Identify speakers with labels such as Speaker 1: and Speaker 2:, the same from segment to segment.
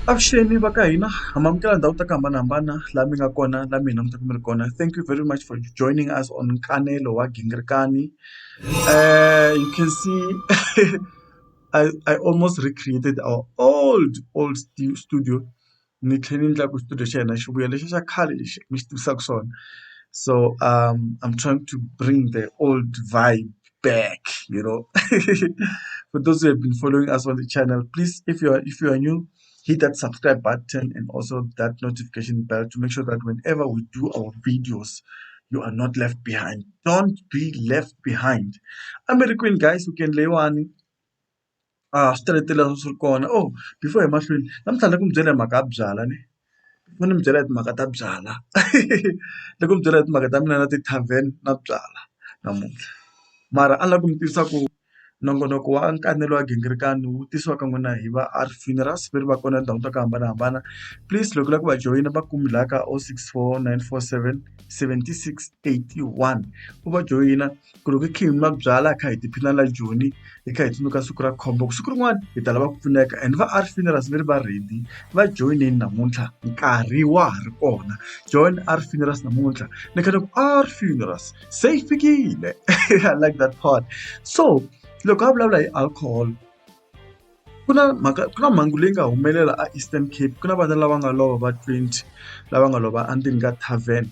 Speaker 1: avuxeni va ka hina hamamukela ndhawu ta ku hambanahambana laha mi nga kona laha mi hi langutaka mi ri kona thank you very much for joining us on nkanelo wa gingirikani. Uh, you can see I, I almost recreated our old old studio ni tlhela ni endla ku studio xa hina xi vuya lexi xa khale lexi mi xi tivisaka swona so um I'm trying to bring the old vibe back you know for those who have been following us on the channel please if you are if you are new hit that subscribe button and also that notification bell to make sure that whenever we do our videos, you are not left behind. Don't be left behind. I'm very Queen, guys. We can lay one. Ah, started to us corner. Oh, before I'm actually, I'm telling you, I'm going to u ni mi byela hi timhaka ta byala loko mi byela hi timhaka ta mina na ti-tarven na byala namuntlha mara a ni lava ku mi tivisa ku Nongonoko wa nkanelo wa gingirikani wu tisiwaka n'wina hi va R funerals va ri va kona tindhawini ta ku hambanahambana please loko u lava ku va joyina va ku la ka o six four nine four seven seventy six eighty one u va joyina ku loko hi kha hi nwa byalwa hi kha hi tiphina la joni hi kha hi tsundzuka siku ra khombo siku rin'wana hi ta lava ku pfuneka and va R funerals va ri va ready va joyinini namuntlha nkarhi wa ha ri kona join R funerals namuntlha ni kha ni ku R funerals. se yi fikile i like that part so loko a vulavula hi alcohol ku na mhaka ku na mhangu leyi nga humelela a Eastern Cape ku na vana lava nga lova va 20 lava nga lova endzeni ka tavern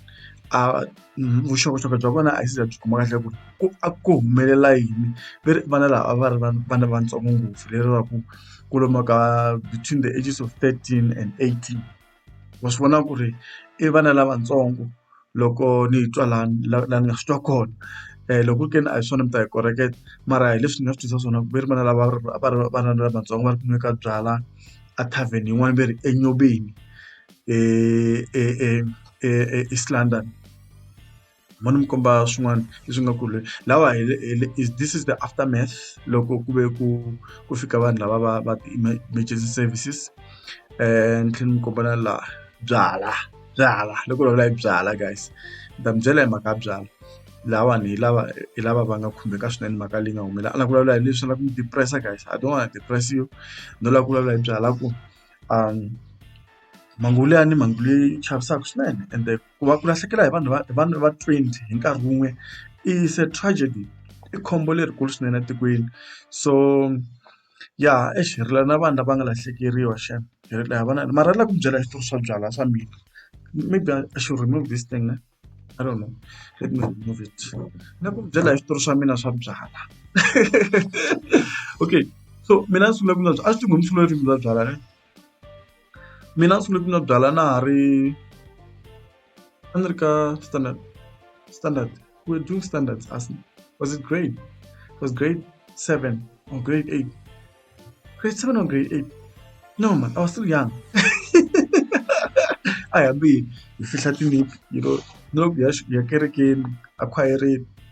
Speaker 1: a mm, vuxokoxoko bya vona a yi za byi kuma kahle ku ku a ku humelela yini ve ri vana lava a va ri vana vatsongo ngopfu leri va ku ku lomu ka between the ages of 13 and 18. wa swi vona ku ri i vana lavatsongo loko ni twa la la la ni nga swi twa kona loko ku ri ke ni a hi swona mi ta hi koreketa mara hi leswi ni nga swi twisisa swona ku ve ri vana lava a va ri vana lavatsongo va ri ku nweka byalwa a tarven yin'wana va ri enyobeni e e e e East London. ni vona mi komba swin'wana leswi nga ku ri lawa hi le hi le is this is the after math loko ku ve ku ku fika vanhu lava va va ti-emergency services ni tlhela ni komba na laha byalwa byalwa loko ku vulavula hi byalwa guys ni ta mi byela hi mhaka ya byalwa lahawani hi lava hi lava va nga khumbeka swinene mhaka leyi nga humelela a ni lava ku vulavula hi leswi ni lava ku mi depress guys I don't wanna depress you no lava ku vulavula hi byalwa ku mhangu liyani mhangu leyi chavisaka swinene ende. ku va ku lahlekela hi vanhu va vanhu va twenty hi nkarhi wun'we is a tragedy i khombo lerikulu swinene etikweni so ya exi hi rila na vanhu lava nga lahlekeriwa xana hi rila hi vona mara ni lava ku mi byela hi switori swa byalwa swa mina maybe I should remove this thing ne I don't know let me remove it ni lava ku mi byela hi switori swa mina swa byalwa okay so mina ni sungule ku nwa byalwa a swi tiva hi sungule ku nwa byalwa ne. mina a ni sungule ku nwa byalwa na ha ri a ni ri ka standard standard we were doing standards as was it grade it was grade seven or grade eight grade seven or grade eight no man i was still young a hi hambi hi fihla tiniphu you know ni loko hi ya hi ya kerekeni a khwayereni.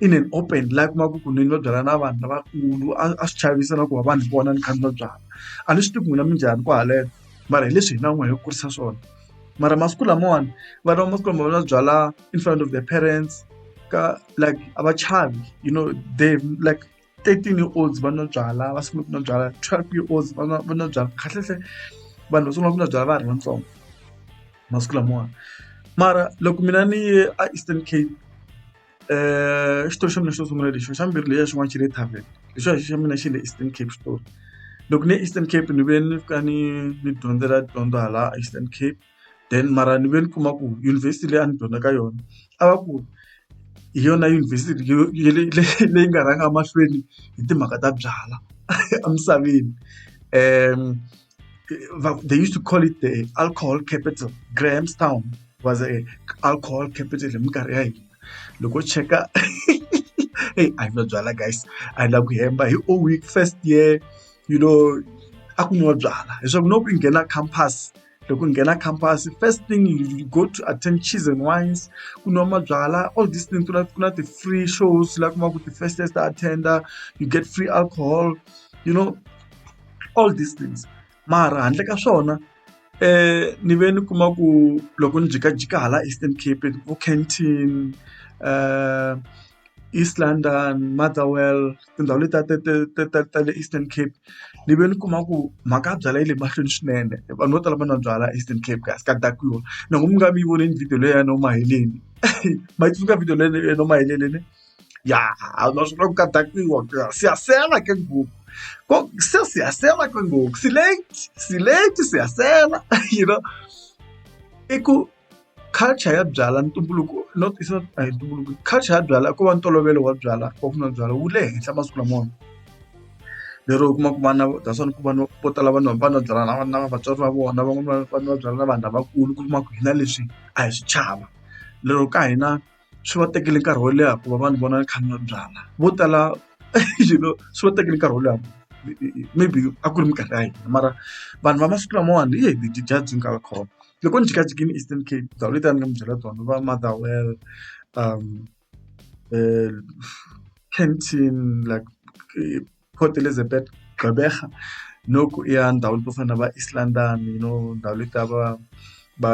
Speaker 1: in an open la u kumaka ku nini va byala na vanhu lavakulu a a swi chavisa na ku va vanhu vona ni kha ni va byala a ni swi tivi ku n'wina mi njhani ku haleno mara hi leswi hina n'wina hi kurisa swona mara masiku lamawani vana va masiku lama va byala in front of the parents ka like a va chavi you know they like. thirteen year olds va nwa byalwa va sungula ku nwa byalwa twelve year olds va nwa va nwa byalwa kahlekahle vanhu va sungula ku nwa byalwa va ha ri vatsongo masiku lamawani mara loko mina ni ye a Eastern Cape xitori xa mina xo sungula lexi xa mbirhi leyi ya xin'wana xi le tarven lexiwa xa mina xi le Eastern Cape xitori loko ni ye Eastern Cape ni vuye ni fika ni ni dyondzela dyondzo hala Eastern Cape. then mara ni ve ni kuma ku yunivhesiti leyi a ni dyondza ka yona a va ku hi yona yunivhesiti leyi nga rhanga mahlweni hi timhaka ta byalwa emisaveni um they used to call it the alcohol capital grahamstown was a alcohol capital hi minkarhi ya hina loko cheka hey a yi no byala guys a yi lava ku hemba hi o week first year you know a ku nwiwa byala leswaku no ku nghena campus loko nghena khamphasi first thing you go to attend cheese and wines ku nwa mabyalwa all this thing ku na ku na ti-free shows la ku va ku ti-festest ta attender you get free alcohol you know all these things mara handle ka swona ni ve ni kuma ku loko ni jikajika hala Eastern Cape vo Kenton East London Motherwell. tindhawu letiya ta ta ta ta ta le Eastern Cape ni ve ni kuma ku mhaka ya byalwa yi le mahlweni swinene vanhu vo tala va nwa byalwa Eastern Cape kasi ka dakiwa na ku mi nga mi yi vonile video leyi ya Noma Maheleni ma yi tsundzuka video leyi ya Noma Maheleni ya naswona ku ka dakiwa siyasela ke ngopfu ko se siyasela ke ngopfu si late si late siyasela you know i ku. Culture ya byalwa ntumbuluko no tisa a hi ntumbuluko culture ya byalwa ko va ntolovelo wa byalwa wa ku nwa byalwa wu le henhla masiku lamawani lero u kuma ku vana that's why ni ku vanhu vo tala vanhu va nwa byalwa na na vatswari va vona van'wana va nwa byalwa na vanhu lavakulu ku kuma ku hina leswi a hi swi chava lero ka hina. swi va tekele nkarhi wo leha ku va vanhu vona va kha va byala vo tala you know swi va tekele nkarhi wo leha maybe a ku ri minkarhi ya hina mara vanhu va masiku lamawani hi hi dya byi nga khoma loko ni jikajikini eastern cape ndhawu leti a ni nga mi byela tona va motherwell um eh, canteen like eh, Port Elizabeth Gqeberha noko i ya ndhawu to fana na va East London you know ndhawu leti ta va va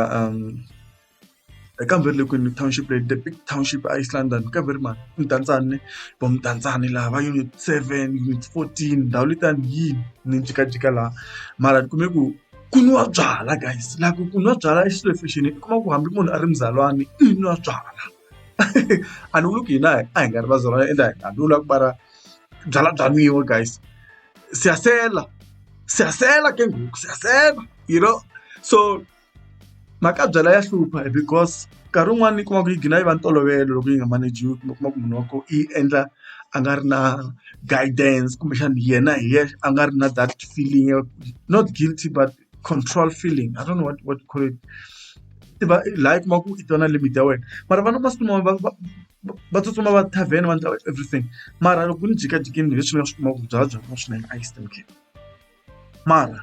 Speaker 1: kambe ri le kwini township leyi the big township a East London ka ve ri mani Mudantsane vo Mudantsane laha va unit seven unit fourteen ndhawu liyani yini ni jikajika laha mara ni kume ku ku nwa byalwa guys la ku ku nwa byalwa i xilo lexi ni kuma ku hambi munhu a ri muzalwana i nwa byalwa. a ni vuli ku hina a hi nga ri vazalwana ende a ni vula ku va ra byala bya nwiwa guys siyasela siyasela ke ngoku siyasela you know so mhaka ya byala ya hlupha because nkarhi wun'wani yi kuma ku yi gina yi va ntolovelo loko yi nga manager-iwi kumbe u kuma ku munhu wa kona yi endla a nga ri na guidance kumbexana yena hi yexe a nga ri na that feeling not guilty but. control feeling i don't know what what you call it ti va laha i kuma ku i tona limit ya wena mara vana masiku lawa va va tsutsuma va tavern va endla everything mara loko ni jikajikini hi leswi ni nga swi kuma ku byala bya kuma swinene a yi stemkini mara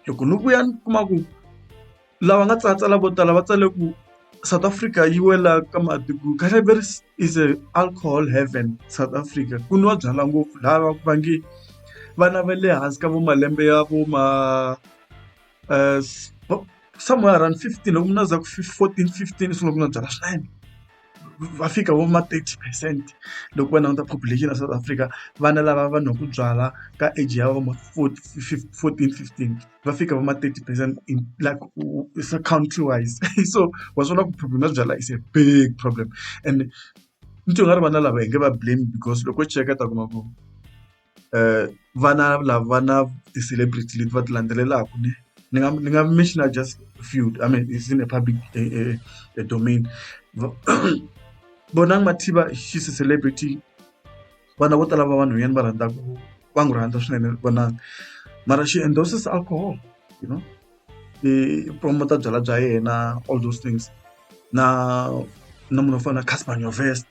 Speaker 1: loko ni vuya ni kuma ku lava nga tsala tsala vo tala va tsale ku South Africa yi wela ka matiko cannabis is a alcohol heaven South Africa ku nwa byalwa ngopfu lava va nge vana va le hansi ka vo malembe ya vo ma somewhere around fifteen loko munhu a za ku fourteen fifteen u sungula ku nwa byalwa swinene va fika vo ma thirty percent loko va languta population ya South Africa vana lava va nwaka byalwa ka age ya vo ma fourteen fifteen. va fika va ma thirty percent in like se country wise so wa swi vona ku problem ya byalwa is a big problem and ni twa nga ri vana lava hi nge va blame because loko u cheka ta kuma ku um vana lava va na ti-celebrity leti va ti landzelelaka ne ni nga ni nga mentioner just few i mean it's in a public a, a, a domain bonang mathiba she's a celebrity vana vo tala va vanhwanyana va rhandza ku va n'wi rhandza swinene vonaka mara she endorses alcohol you know i promoter byala bya yena all those things na na munhu wo fana na Cassper Nyovest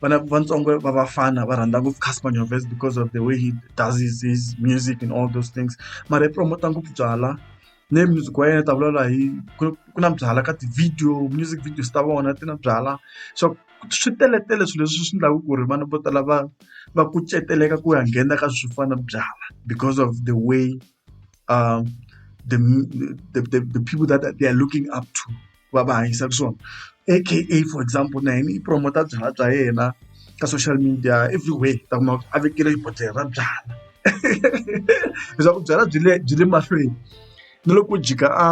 Speaker 1: vana vatsongo va vafana va rhandza ngopfu Cassper Nyovest because of the way he does his, his music and all those things mara i promoter ngopfu byala ne music wa yena u ta vulavula hi ku ku na byalwa ka ti-video music videos ta vona ti na byalwa so swi teletele swilo leswi swi endlaka ku ri vana vo tala va va kuceteleka ku ya nghena ka swo fana na byalwa because of the way the the the people that they are looking up to. va va hanyisaka swona aka for example na yena i promote byalwa bya yena ka social media every way ta kuma a vekile xibodhlele ra byalwa leswaku byalwa byi le byi le mahlweni na loko jika a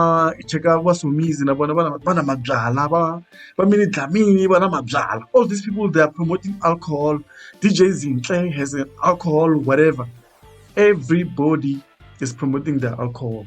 Speaker 1: cheka va somizi na vona vana va na mabyalwa va va mini dlamini va na mabyalwa all these people they are promoting alcohol dj zintle has an alcohol whatever everybody is promoting their alcohol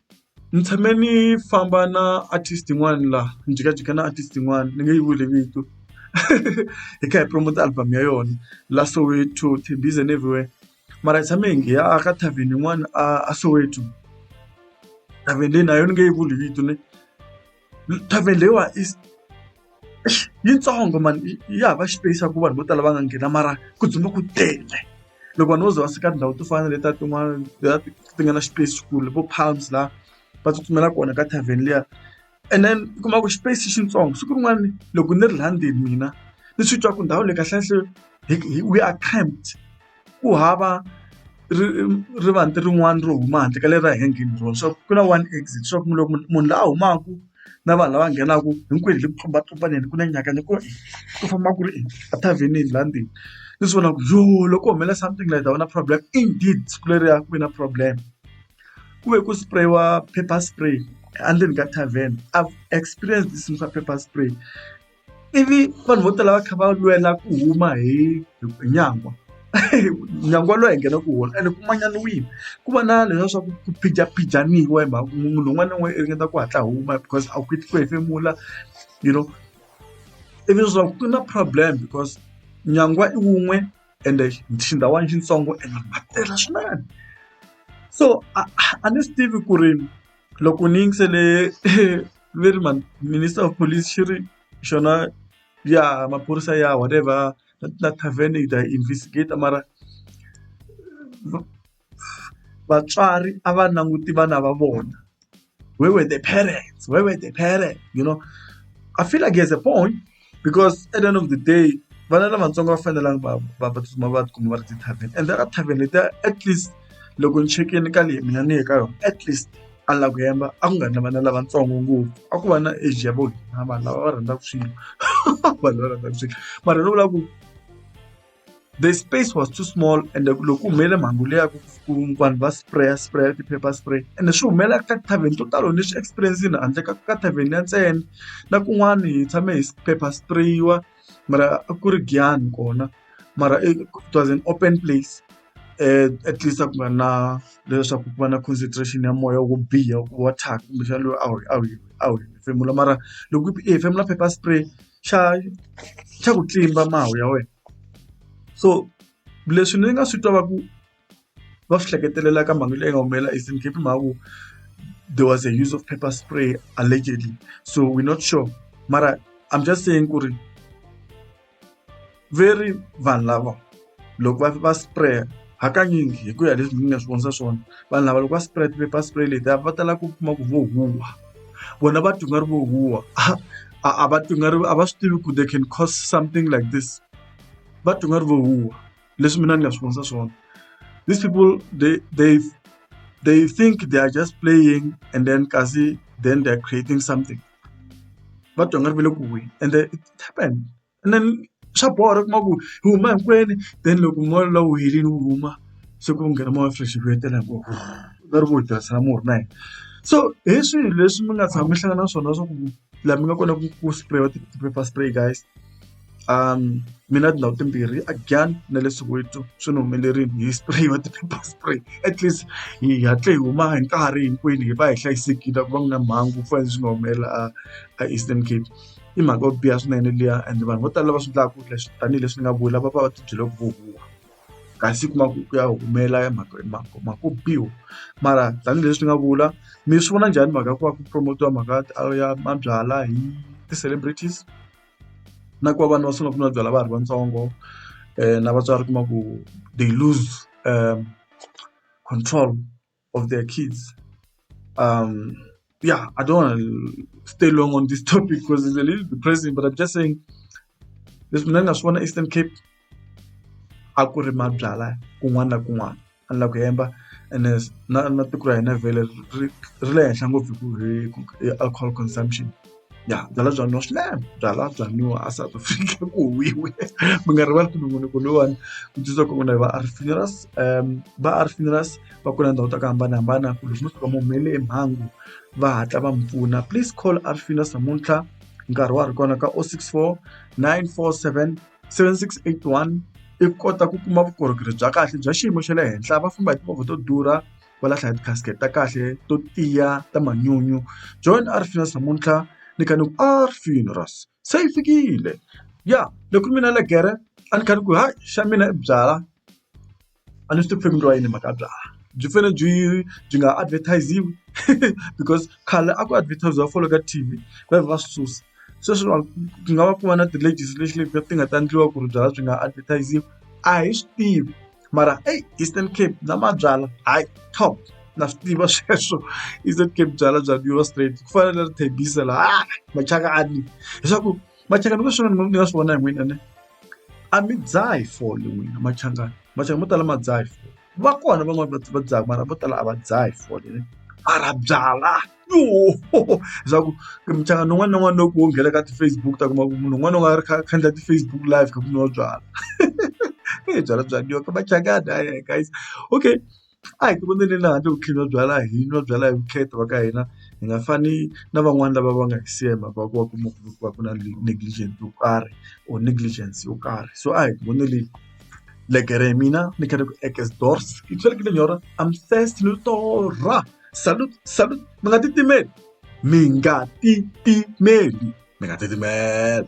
Speaker 1: Ni tshame ni famba na artist yin'wani la ni jikajika na artist yin'wani ni nge yi vuli vito hi kha hi promote-a album ya yona la Soweto, Tembisa and everywhere mara hi tshame hi nghena a ka tarven yin'wana a Soweto tarven leyi na yona ni nge yi vuli vito ne. Tavern leyiwa i yitsongo mani ya hava xipeyisi xa ku vanhu vo tala va nga nghena mara ku dzumba ku tele loko vanhu vo ze va fika tindhawu to fana na letiya tin'wana ti nga na xipeyisi xikulu vo palms laha va tsutsumela kona ka tavern liya and then u kuma ku xipeyisi xitsongo siku rin'wana loko ni ri laha ndzeni mina ni swi twa ku ndhawu leyi kahlekahle we are cramp. ku hava ri rivanti rin'wana ro huma handle ka leri ra hina gate ro swa ku na one exit swa ku loko munhu la humaka na vanhu lava nghenaka hinkwenu hi le ku tlumbatlumbaneni ku na nyakanya ku ri ku famba ku ri ethavhenini laha ndzeni ni swi vona ku yo loko ku humelela something like that va na problem indeed siku leriya ku ve na problem ku ve ku spray-iwa paper spray endzeni ka tarven I've experienced this paper spray. ivi vanhu vo tala va kha va lwela ku huma hi hi nyangwa nyangwa lowu hi nghenaka hi wona ene ku manyanisiwile ku va na leswiya swa ku ku phijaphijanisiwa hi mhaka ku munhu un'wana na un'wana i ringeta ku hatla huma because a wu koti ku hefemula you know ivi leswaku ku na problem because nyangwa i wun'we ende xindhawana xitsongo ene va tele swinene so a a ni swi tivi ku ri. loko ni yingisele ve ri mhani minister of police xi ri xona ya maphorisa ya whatever la tarven hi ta yi investigate mara vatswari a va languti vana va vona where were the parents where were the parents you know I feel like he has a point. because at the end of the day vana lavatsongo va fanelanga va va va tsutsuma va tikuma va ri ti-tarven and there are tarven letiya at least loko ni chekini ka leyi mina ni ye ka yona at least a la ku yemba a ku nga ri na vana lavatsongo ngopfu a ku va na age ya vo hina vanhu lava va rhandzaka swilo vanhu lava rhandzaka swilo mara ni vula ku. The space was too small ende loko ku humelele mhangu leyi ya ku ku vanhu va spray spray ti-paper spray ende swi humelela ka tithavheni to talo ni swi experience-ini handle ka ka thavheni ya ntsena na kun'wani hi tshame hi paper spray-iwa mara a ku ri Giyani kona mara it was an open place at least a ku nga na leswaku ku va na concentration ya moya wo biha wa thyaka kumbexana loyi a wu a wu a wu hefemula mara loko i hefemula paper spray. xa xa ku tlimba mahawu ya wena so leswi ni nga swi twa va ku va swi hleketelela ka mhaka leyi nga humelela Eastern Cape hi mhaka ku there was a use of paper spray allegedly so we not sure mara I'm just saying ku ri. ve ri vanhu lava loko va va spray hakanyingi hi ku ya leswi ni nga swi vonisa swona vanhu lava loko va spray ti-paper spray leti a va tala ku kuma ku vo huwa vona va twi nga ri vo huwa a a va twi nga ri a va swi tivi ku they can cause something like this va twi nga ri vo huwa leswi mina ni nga swi vonisa swona these people they they they think they are just playing and then kasi then they are creating something va twa nga ri ve le ku huweni and it happened ene swa borha u kuma ku hi huma hinkwenu then loko moya luwa wu helini wu huma se ku nghena moya wa fresh hi vuyetela hi ngo va ri vo hi tirhisela murhi na hina so hi swihi leswi mi nga tshama mi hlangana na swona swa ku laha mi nga kona ku ku spray ti-pepper spray guys mi na tindhawu timbirhi a Giyani na le Soweto swi ni humelerile hi spray ti-pepper spray at least hi hatle hi huma hi nkarhi hinkwenu hi va hi hlayisekile a ku va ku na mhangu ku fana na leswi nga humelela a a Eastern Cape. i mhaka yo biha swinene liya and vanhu vo tala lava swi endlaka leswi tanihileswi ni nga vula va va va tibyele ku huhuha kasi kuma ku ku ya humelela ya mhaka mhaka mhaka ku biwa mara tanihileswi ni nga vula mi swi vona njhani mhaka ya ku va ku promote-iwa mhaka ya mabyalwa hi ti-celebrities na ku va vanhu va sungula ku nwa byalwa va ha ri vatsongo na vatswari kuma ku they lose control. of their kids. Um, yeah, I don't want to stay long on this topic because it's a little depressing, but I'm just saying this man na swi Eastern Cape a ku ri mabyala kun'wana na kun'wana a ni la ku hemba ene na na tiko ra hina vhele ri ri le henhla ngopfu hi ku hi alcohol consumption. ya byalwa bya nwiwa swinene byalwa bya nwiwa a South Africa ku huhwiwe mi nga rivali ku munhu ku loyiwani ku tsundzuka ku vona hi va a ri funerals va a ri funerals va ku na ndhawu ta ku hambanahambana ku loko mo tshuka mi humelele hi mhangu va hatla va mi pfuna please call a ri funerals namuntlha nkarhi wa ha ri kona ka o six four nine four seven seven six eight one i kota ku kuma vukorhokeri bya kahle bya xiyimo xa le henhla va famba hi timovha to durha. va lahla hi ti-casket ta kahle to tiya ta manyunyu John a ri finasa namuntlha ni kha ni ku a ri finras se yi fikile ya loko mina le gere a ni kha ni ku hayi xa mina i byala a ni swi tivi family wa yini mhaka byala byi fane byi byi nga advertisiwi because khale a ku advertisiwa folo ka T_V va va susa sweswi va ku nga va ku va na ti-legislation leti ti nga ta endliwa ku ri byala byi nga advertisiwi a hi swi tivi. mara eyi Eastern Cape na mabyalwa hayi top na swi tiva sweswo Eastern Cape byalwa bya nwiwa straight ku fana na Tembisa la ha machaka a ni leswaku machaka ni swin'wana ni nga swi vona hi n'wina ne a mi dzahi fole n'wina machangani machangani mo tala ma dzaha hi fole va kona van'wani va va dzaha mara vo tala a va dzahi fole mara byalwa. swa ku muchangani wun'wana na wun'wana loko wo nghena ka ti-Facebook u ta kuma ku munhu un'wana u nga ri kha a kha a endla ti-Facebook live kha ku nwiwa byalwa eyi byalwa bya nwiwa ka machangani hayi hayi guys okay a hi ti voneni laha handle ku tlhela byalwa hi nwa byalwa hi vukheta va ka hina hi nga fani na van'wani lava va nga hi siya hi mhaka ya ku va kuma ku va ku na negligent yo karhi or negligence yo karhi so a hi ti voneleni legere ya mina ni khale ku ekesdorse ke tshwere ke lenyora I'm thirsty no torha. salute salute mi nga titimeli mi nga titimeli mi nga titimeli